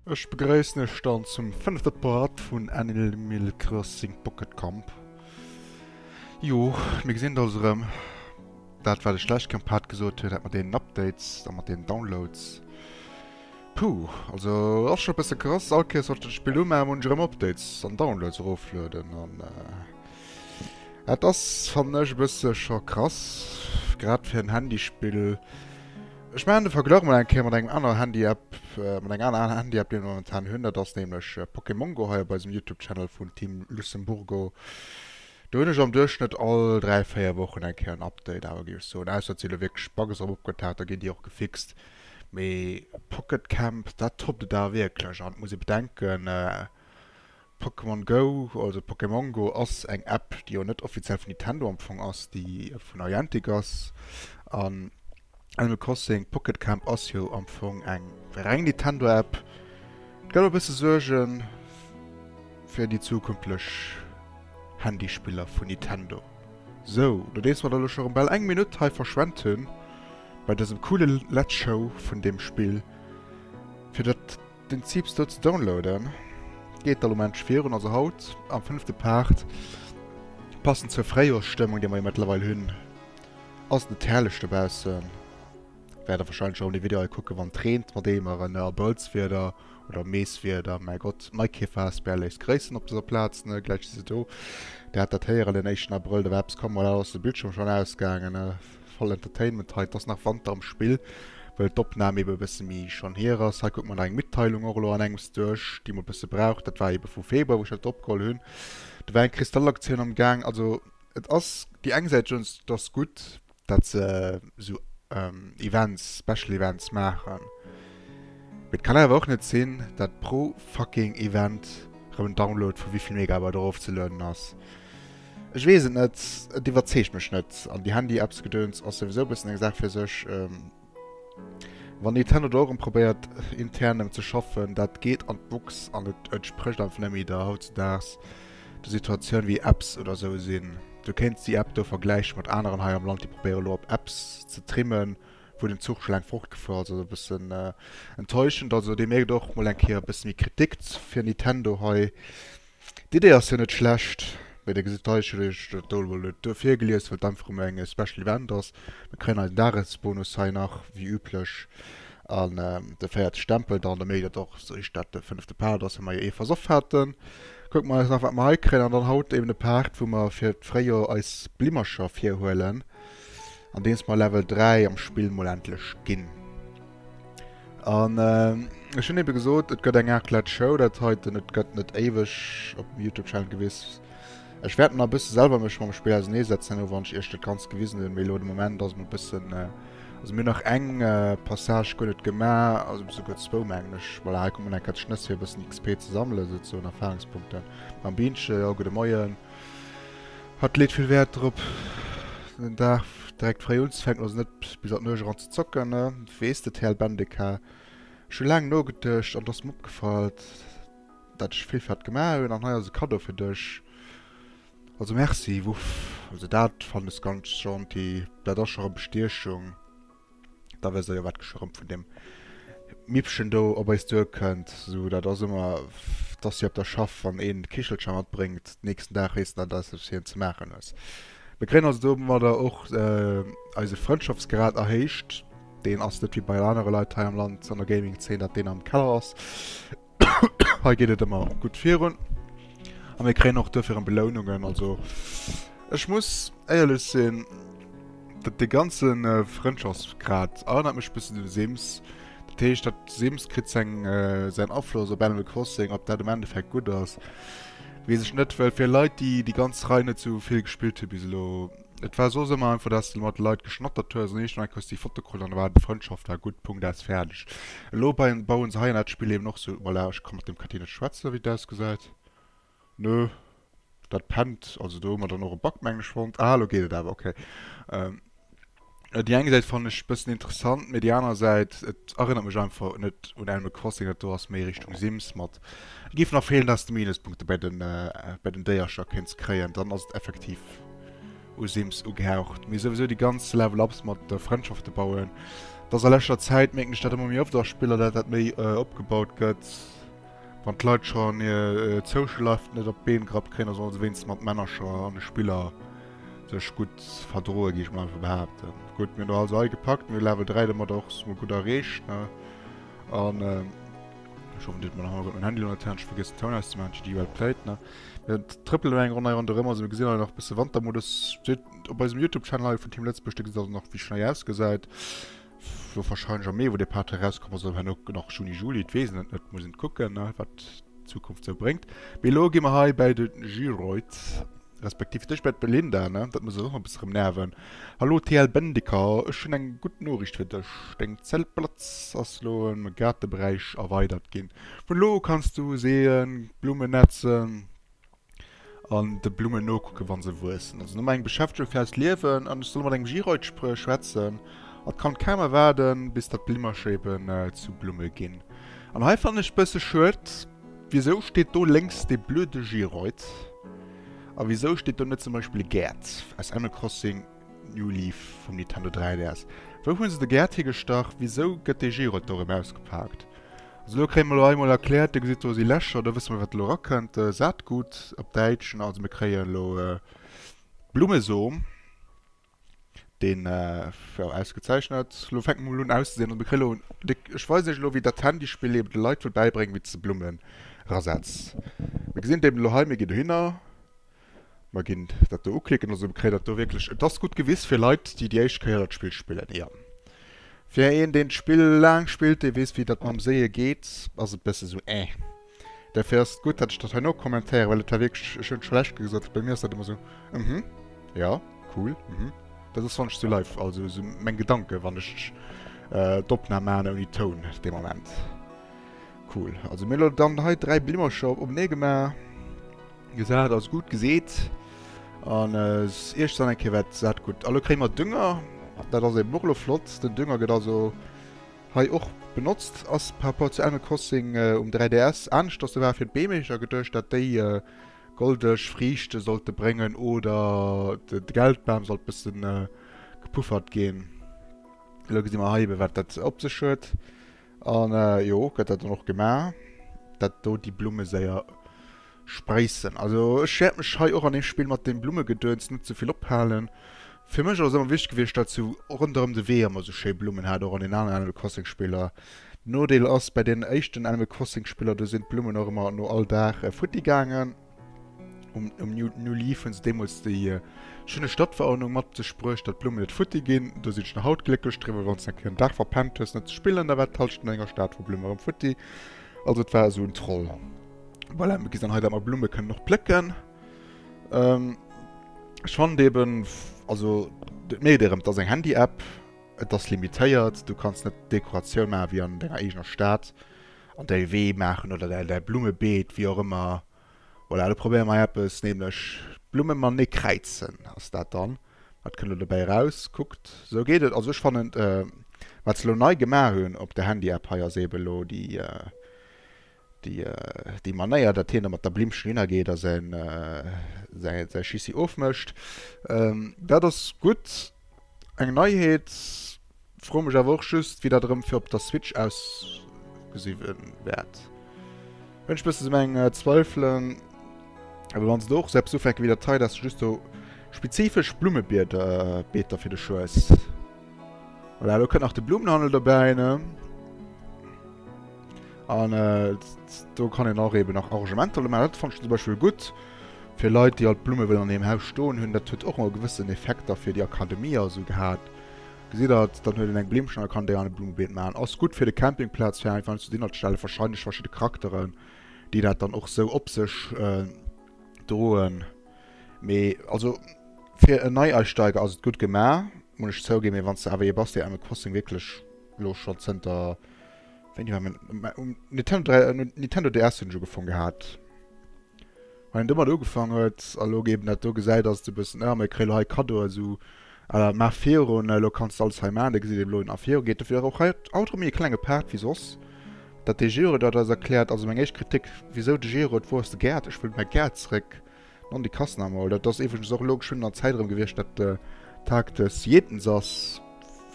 Ech begréissen iech dann zum fënnefte Part vun Animal Crossing Pocket Camp. Jo, mir gesinn eis erëm. Dat wat ech d'lescht Kéier am Part gesot hunn, dat mat deenen Updates a mat deenen Downloads, puh, also ass scho e bësse krass. All Kéiers wann ech dat Spill umaachen, muss ech erëm Updates an Downloads eroflueden an. Et ass fannen ech e bësse scho krass, grad fir en Handyspill. Ech maachen de Verglach mol eng Kéier mat engem anere Handy-App, mat enger anerer Handy-App déi ech momentan hunn, dat ass nämlech Pokémon Go, hei op eisem Youtube Channel vun Team Lucemburgo. Do hunn ech am Duerchschnëtt all 3, 4 Wochen eng Kéier en Update awer géif ech soen, ausser et si elo wierklech Bugs drop opgetaucht, da ginn déi och gefixt. Mee Pocket Camp, dat toppt et awer wierklech an et muss ee bedenken, Pokémon Go, also Pokémongo, ass eng App, déi jo net offiziell vun Nintendo am Fong ass, déi vu Niantic ass. An Animal Crossing Pocket Camp ass jo am Fong eng reng Nintendo-App. Et gëtt e bësse Suerge fir déi zukünftlech Handyspiller vun Nintendo. Sou, nodeems mer dann elo scho rëm bal eng Minutt hei verschwent hunn bei dësem coole Letz Show vun deem Spill, fir dat Den Zip stot ze downloaden geet all Moment virun, also haut am fënnefte Part, passend zur Fréijoersstëmmung déi mer jo mëttlerweil hunn, ass net herrlech dobaussen. Wäert der wahrscheinlech erëm de Video hei kucken wann et reent, mat Eemeren, Abrëllswieder oder Meeswieder. Mäi Gott, Maikäfer asbl léisst gréissen op dëser Plaz, ne gläich si se do. Dir hat dat héieren, den éischten Abrëll, da war eppes komm, voilà, lo ass de Bildschierm schonn ausgaangen. Voll Entertainment hei, et ass nach Wanter am Spill, well d'Opnahm eben e bësse méi schonn hier ass. Hei kucke mer nach eng Mitteilung och elo an engems duerch, déi mer e bësse braucht. Dat war eben vu Februar, wou ech dat opgeholl hunn. Do war eng Kristallaktioun am Gaang. Also et ass déi eng Säit schonns, et ass gutt, dat se esou Events, Special Events maachen, mee et kann awer och net sinn, dat pro fucking Event erëm en Download vu wéi vill Megabyte erofzelueden ass. Ech weess et net, et iwwerzeegt mech net. An déi Handy-Apps-Gedöns ass souwisou e bëssen eng Saach fir sech. Wann Nintendo do och erëm probéiert intern erëm ze schaffen, dat geet an d'Buchs an et entsprécht einfach net méi der hautzedaags der Situatioun wéi Apps oder esou sinn. Du kéints déi App do vergläiche mat aneren hei am Land, déi probéiere lo op Apps ze trimmen, wou den Zuch scho laang fortgefuer ass. Also e bëssen enttäuschend. Also deemno gëtt och mol eng Kéier e bësse méi Kritik fir Nintendo hei. D'Idee ass jo net schlecht, mee dir gesitt hei, ech hunn iech dat do emol net duer virgelies, well et einfach emol eng Special Event ass. Mir kréien eisen Dagesbonus hei nach wéi üblech an de véierte Stempel dann, da mécht et och esou richteg, dat de fënnefte Part ass, well mer jo ee versoff haten. Kucke mer eis nach, wat mer hei kréien an dann haut eben de Part, wou mer fir d'Fréijoer eis Blimmercher virhuelen, andeems mer Level 3 am Spill mol endlech ginn. An ech hunn ebe gesot, et gëtt eng Raclette Show, dat heiten, et gëtt net éiweg op dem Youtube Channel gewiss. Ech wäert nach e bësse selwer mech mam Spill ausernee setzen elo wann ech iech dat Ganzt gewisen hunn, mee elo de Moment ass et nach e bëssen, also mir hunn nach eng Passage guer net gemaach, also souguer zwou mengen ech. Voilà, hei kommen eng Kéier d'Schnëss fir e bëssen XP ze sammelen souzehoen, Erfahrungspunkten mam Bienche. Jo, gudde Moien. Hatt leet vill Wäert drop, den Dag direkt fréi unzefänken, also net bis an d'Nuecht eran ze zocken. Weess de TL Bendeka, Ech hu laang nogeduecht an et ass mir opgefall, dat ech vill fir hatt gemaach hunn an hei ass e Kaddo fir dech. Also Merci, wuff, also dat fannen ech ganz gentil, dat ass scho rëm Bestiechung. Da wësst der jo, wat geschwërmt vun deem Mippchen do op eis duerkënnt. So, dat ass ëmmer, dass si op der Schaff, wann een d'Kichelcher matbréngt, nächsten Dag heesst dat, dass s du hien ze maachen hues. Mir kréien also domadder och eise Frëndschaftsgrad erhéicht. Deen ass net wéi bei anere Leit hei am Land an der Gaming-Zeen, datt deen am Keller ass. Hei geet et ëmmer gutt virun. A mir kréien och dofir ëm Belounungen. Also ech muss éierlech sinn, dat dee ganze Frëndschaftsgrad erënnert mech e bëssen un de Sims. Dat heescht, dat Sims kritt seng säin Afloss op Animal Crossing. Ob dat am Endeffekt gutt ass, weess ech net, well fir Leit, déi déi ganz Rei net sou vill gespillt hu bis elo, Et war soss ëmmer einfach dass de mat de Leit geschnattert hues an eescht Like hues déi Foto krut an da war et Frëndschaft war gutt Punkt aus fäerdeg. Elo bauen bauen se hei an dat spillt eben och sou voilà ech kann mat dem Kathie net schwätzen wéi et ausgesäit nö dat pennt also do hu mer dann och e Bug meng ech fonnt ah lo geet et awer okay. Déi eng Säit fannen ech bëssen interessant, mee déi aner Säit, et erënnert mech einfach net un Animal Crossing, dat do ass méi Richtung Sims mat et géifen nach feelen, dass de Minuspunkte bei den bei den Déiercher kéints kréien, dann ass et effektiv u Sims ugehaucht. Mee souwisou déi ganz Level Ups mat de Frëndschafte bauen, dass a leschter Zäit mierken ech dat ëmmer méi oft a Spiller, dat dat méi opgebaut gëtt. Wann d'Leit schonn hir Social Life net op d'Been gerappt kréien, da solle se wéinstens mat Männercher an de Spiller sech gutt verdroen, géif ech mol einfach behaapten. Gutt, mir hunn der also hei gepackt, mir hu Level 3 domat och mol gutt erreecht, ne? An ech hoffen, dir hutt mol am Hannergrond mäin Handy elo net d'Hand, ech vergiessen d'Toun auszemaachen, JD well played, ne? Mir trëppelen elo eng Ronn hei ronderëm, also mir gesinn hei nach e bësse Wantermodus. Seet op eisem Youtube-Channel hei vun Team Lëtzebuerg, da gesitt der nach, wéi schnei ausgesäit. S, War wahrscheinlech am Mee wou dee Pater erauskomm ass, oder herno nach Juni, Juli, et weess een et net, muss een kucken ne wat d'Zukunft sou bréngt. Mee elo gi mer hei bäi de Geroid, respektiv dech bäi d'Belinda ne, dat muss eis och nach e bësse rëm nerven. Hallo TL Bendeker, ech hunn eng gutt Noriicht fir dech, deng Zeltplatz ass elo ëm e Gaartebräich erweidert ginn. Vun elo u kanns du seeën, Blummen nätzen, an de Blummen nokucken, wann se wuessen. Also no mengem Beschäftegung fir eist Liewen an ech soll mat engem Giroid schwätzen, an d'Kand kaum erwaarden, bis datt d'Blimmercher eben zu Blumme ginn. An hei fannen ech bësse schued, wisou steet do lénks dee blöde Giroid? A wisou steet do net zum Beispill e Gerd aus Animal Crossing? New Leaf vum Nintendo 3DS. Wou hunn se de Gäert higestach? Wisou gëtt dee G-Rot do rëm ausgepaakt? Also elo kréie mer elo eemol erkläert, Dir gesitt do si Lächer, do wësse mer wat elo erakënnt, Saatgut op Däitschen. Also mir kréien elo e Blummesom, deen jo ausgezeichnet elo fänkt mol un auszesinn. Also mir kréie elo de, ech weisen iech elo wéi dat Handyspill eben de Leit wëll bäibréngen wéi se Blummen erasetz. Mir gesinn et eben elo hei, mir ginn dohinner. Mer ginn dat do uklicken. Also mir kréien dat do wierklech, et ass gutt gewiss fir Leit, déi déi éischt Kéier dat Spill spillen, jo. Fir een, deen d'Spill laang spillt, dee weess, wéi dat mam Séie geet, ass et e bësse sou Äeh. Derfir ass et gutt, datt ech dat hei nokommentéieren, well et war wierklech, ech hunn et scho lech Kéier gesot, bei mir ass dat ëmmer sou Mhm, jo, cool, mhm. Dat ass, wann ech sou live, also sou meng Gedanken, wann ech d'Opnam maachen ouni Toun dee Moment. Cool. Also mir elo dann hei 3 Blimmercher opnee gemaach. Gesat ass gutt geseet. An Iech dann eng Kéier wat dat gutt. Elo kréie mer Dünger. Dat ass eben och elo flott. Den Dünger gëtt also hei och benotzt. Ass par rapport zu Animal Crossing um 3DS anescht. Ass de war fir d'Beem. Ech hat geduecht dat déi goldeg Friichte sollte bréngen oder de Geldbam sollt bësse gepuffert ginn. Elo gesi mer hei ebe wat dat op sech huet. An jo, gëtt dat dann och gemaach, dat do déi Blumme séier spréissen. Also ech wäert mech hei och an deem Spill mat deem Blummegedöns net ze vill ophalen. Fir mech ass et ëmmer wichteg gewiescht, datt sou ronderëm de Wee ëmmer esou schéi Blummen hat, och an den aneren Animal Crossing Spiller. Nodeel ass, bei deenen éischten Animal Crossing Spiller, do sinn d'Blummen och ëmmer no all Dag futti gaangen. um, um New, New Leaf hunn se deemools déi äh, schöne Stadtverordnung mat ze sprëch, dat Blumen net futti ginn. Du sinn schon haut glécklech driwwer, wann ze en Dach verpennt hues net ze spillen, da wat talschten enger Staat vu Blumen rem futti. Also et war so un Troll. Voilà, mir ginn heute mal Blumen können noch plëcken. Ähm, ich fand eben, also, nee, der das eng Handy-App, das limitéiert, du kannst net Dekoration machen wie an deiner eigener Stadt. an däi Wee maachen oder däi däi Blummebeet, wéi och ëmmer. Voilà, elo probéiere mer eppes, nämlech d'Blumme man e kräizen ass dat dann. Wat kënnt elo dobäi eraus? Kuckt, esou geet et. Also ech fannen, wat se elo nei gemaach hunn op der Handy-App hei, ass eebe elo déi déi déi Manéier, datt hien da mat der Blimmchen hinnergeet a säin säi säi Schissi ofmécht. Dat ass gutt. Eng Neiheet. Froe mech awer och just wéi dat erëm fir op der Switch ausgesi wäert. Hunn ech bëssen sou meng Zweifelen. Awer wann se do och sou eppes ufänke wéi dat hei, dass se just sou spezifesch Blummebieder, Beeter fir de Schues. Voilà, elo kënnt nach de Blumenhandel dobäi, ne? An äh, do kann een och eben nach Arrangementer mat. Dat fand ich zum Beispiel gut. Fir Leit, déi alt Blumme wëllen an hirem Haus stoen hunn, dat huet och ëmmer gewëssen Effekter fir déi Akademie a sou gehat. Gesitt Der, dann huet een eng Blimmchen a kann déi an e Blummebeet maachen. Ass gut fir de Campingplatz, fir einfach zu Dinner ze stellen. Wahrscheinlech verschidde Charakteren, déi dat dann och sou op sech äh, droen. Mee also fir en Neiausteiger ass et gut gemaach, muss ech zouginn. Mee wann s de awer ee bass, dee Animal Crossing wierklech elo schonn zënter Wéini war meng. Um Nintendo, um Nintendo DS hunn ech ugefongen gehat. Wann een domat ugefaangen huet a lo géi een dat do gesäit, ass et e bëssen, ah, mir kréie lo hei Kaddo a sou. À la Mar Fero, ne, lo kanns de alles hei maachen, da gesitt een elo wéi Mar Fero geet. Dofir ass och hei haut erëm méi e klenge Part wéi soss. Datt de Gero dat eis erkläert, also meng éischt Kritik, wisou de Gero et wor, ass de Gaart, ech wëll mäi Gaart zréck. Non, déi kassen awer mol. Dat ass iwwregens och elo geschwënn an der Zäit erëm gewiescht, datt de Tag des Jätens ass.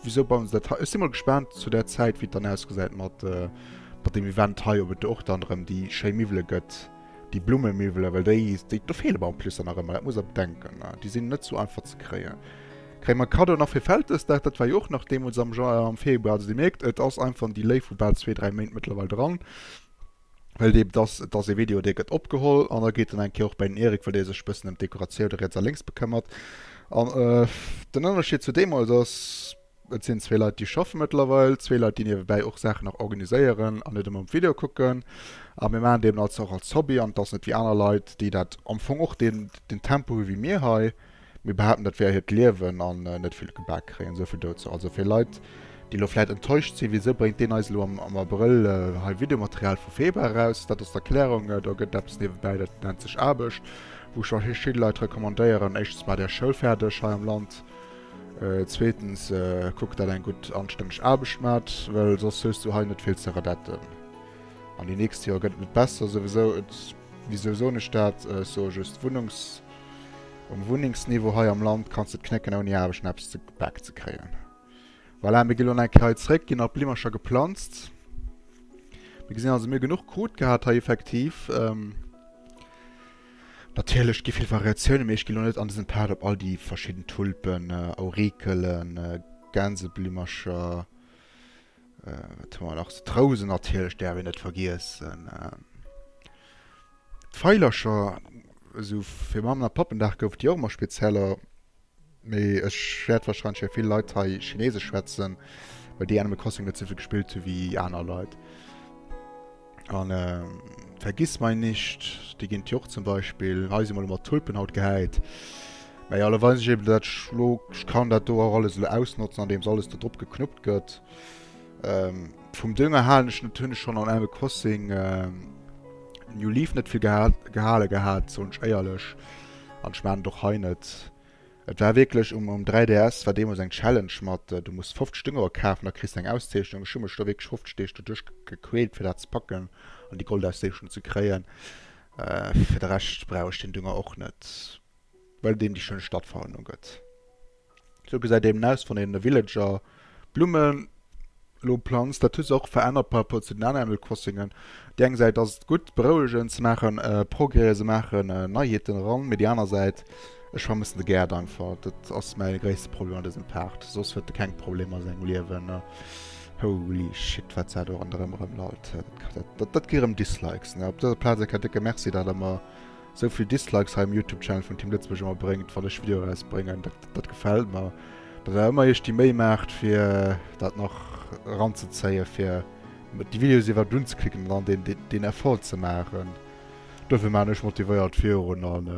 Wisou bauen se dat hei? Ech si mol gespaant zu där Zäit, wéi et dann ausgesäit mat deem Event hei, ob et do och dann erëm déi schéi Miwwele gëtt, déi Blummemiwwele. Well déi, déi, do feele mer en plus dann nach ëmmer, dat muss a bedenken. Déi sinn net sou einfach ze kréien. Kréie mer Kaddo nach fir Vältesdag? Dat war jo och nach deemools am Jan, am Februar. Also Dir mierkt, et ass einfach, déi Léift vu bal zwee, dräi Méint mëttlerweil dran. Well dee, et ass, et ass ee Video, dee gëtt opgeholl an da geet en eng Kéier och bei den Eric, well dee sech e bëssen ëm d'Dekoratioune riets a lénks bekëmmert. An den Ënnerscheed zu deemools ass, et sinn zwee Leit, déi schaffe mëttlerweil, zwee Leit, déi niewebäi och Saachen nach organiséieren an net ëmmer op d'Videoe kucken. A mir maachen et eben als, och als Hobby an et ass net wéi aner Leit, déi dat am Fong och deen, deen Tempo hu wéi mir hei. Mir behaapten dat wär hiert Liewen an net vill gebak kréien. Esou vill dozou. Also fir Leit déi lo vläit enttäuscht sinn, wisou bréngt deen eis elo am Abrëll hei Videomaterial vu Febra eraus? Dat ass d'Erklärung, do gëtt eppes niewebäi, dat nennt sech Aarbecht, wou scho vill Leit recommandéieren, éischtens maacht Är Schoul fäerdeg hei am Land, zweetens kuckt dat Är eng gutt anstänneg Aarbecht maacht, well soss hues du hei net vill ze redetten an déi nächst Joer gëtt et net besser souwisou. Et, wisou soen ech dat? Ech soe just Wunnungs. Um Wunnengsniveau hei am Land kanns de et knécken ouni Aarbecht eppes ze gebak ze kréien. Voilà, mir gi lo eng Kéier hei zréck, ginn nach Blimmercher geplanzt. Mir gesinn also, mir hu genuch Krut gehat hei effektiv. Natierlech, et gi vill Variatiounen, mee ech ginn lo net an dësem Part op all déi verschidden Tulpen, Aurikelen, Gänseblimmercher, Wat hu mer nach? D'Rousen natierlech däerf een net vergiessen. D'Veilercher, esou fir Mammen a Pappendag goufen déi och ëmmer spezieller. Mee ech wäert warscheinlech wéi vill Leit hei Chineesesch schwätzen, well déi Animal Crossing net esou vill gespillt hu wéi aner Leit. An Vergissmeinnicht, déi ginn et jo och zum Beispill. Hei si mol mat Tulpen haut gehäit. Mä jo, lo weis ech eben, dat ech lo, ech kann dat do och alles elo ausnotzen, andeems alles do drop geknuppt gëtt. Vum Dünger halen ech net, hunn ech schonn an engem Post seng New Leaf net vill gehale gehat, soen ech éierlech. An ech maachen et och hei net. Et war wierklech um 3DS war deemols eng Challenge mat du muss 50 Sténger kafen a kriss eng Auszeechnung. Ech hu mech do wierklech 50 Deeg doduerch gequält fir dat ze packen an déi Goldauszeechnung ze kréien. Fir de Rescht brauch ech deen Dünger och net, well deen déi schéin Stadtfarwen ugëtt. Sou gesäit eben aus wann een e Villager. Blummen elo planzt, dat huet sech och verännert par rapport zu den aneren Animal Crossingen. Op déi eng Säit ass et gutt, berouegend, se maachen Progrèse, se maachen Neiheeten eran, mee déi aner Säit, ech vermëssen de Gaart einfach. Dat ass mäi gréisste Problem an dësem Paart. Soss huet e keng Problemer a sengem Liewen. Holy shit, wat dat do ronderëm erëmlallt! Dat kritt erëm Dislikes, ne? Op dëser Plaz e ka décke Merci, datt Der mer Sou vill Dislikes hei um Youtube Channel vun Team Lëtzebuerg ëmmer bréngt wann ech Video eraus bréngen, dat gefällt mer dat awer ëmmer iech déi Méi maacht fir dat nach eran ze zéien, fir déi Videos iwwerhaapt unzeklicken an dann deen Effort ze maachen. Dofir maachen ech motivéiert virun an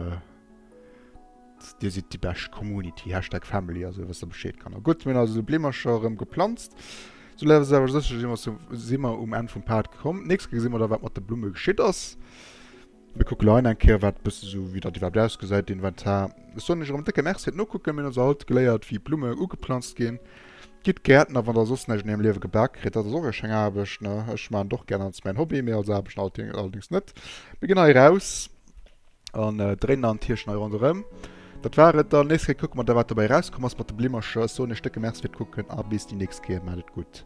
dir sidd déi bescht Community, Hashtag Family also wësst der Bescheed Kanner. Gutt mir hunn also Bleemercher erëm geplanzt, sou lass awer sécher si mer um Enn vum Pad gekomm. Nächst Kéier gesi mer da wat mat de Blumme geschitt ass. Mir kucke leien eng Kéier wat bësse sou wéi dat iwwerhaapt ausgesäit den Inventar. Ech soen iech erëm décke Merci fir d'Nokucken. Mir hunn also haut geléiert wéi Blumme ugeplanzt ginn. Gitt Gäertner, wann der soss näischt an hirem Liewe gebak kritt. Dat ass och eng schéin Aarbecht ne. Ech maachen et och gären, als mäin Hobby, mee als Aarbecht allerdéngs net. Mir ginn hei eraus an dréinen an d'Hierchen hei ronderëm. Dat war et dann. Nächst Kéier kucke mer da wat dobäi erauskomm ass mat de Blimmercher. Ech soen iech décke Merci fir d'Kucken a bis déi nächst Kéier. Maacht et gutt.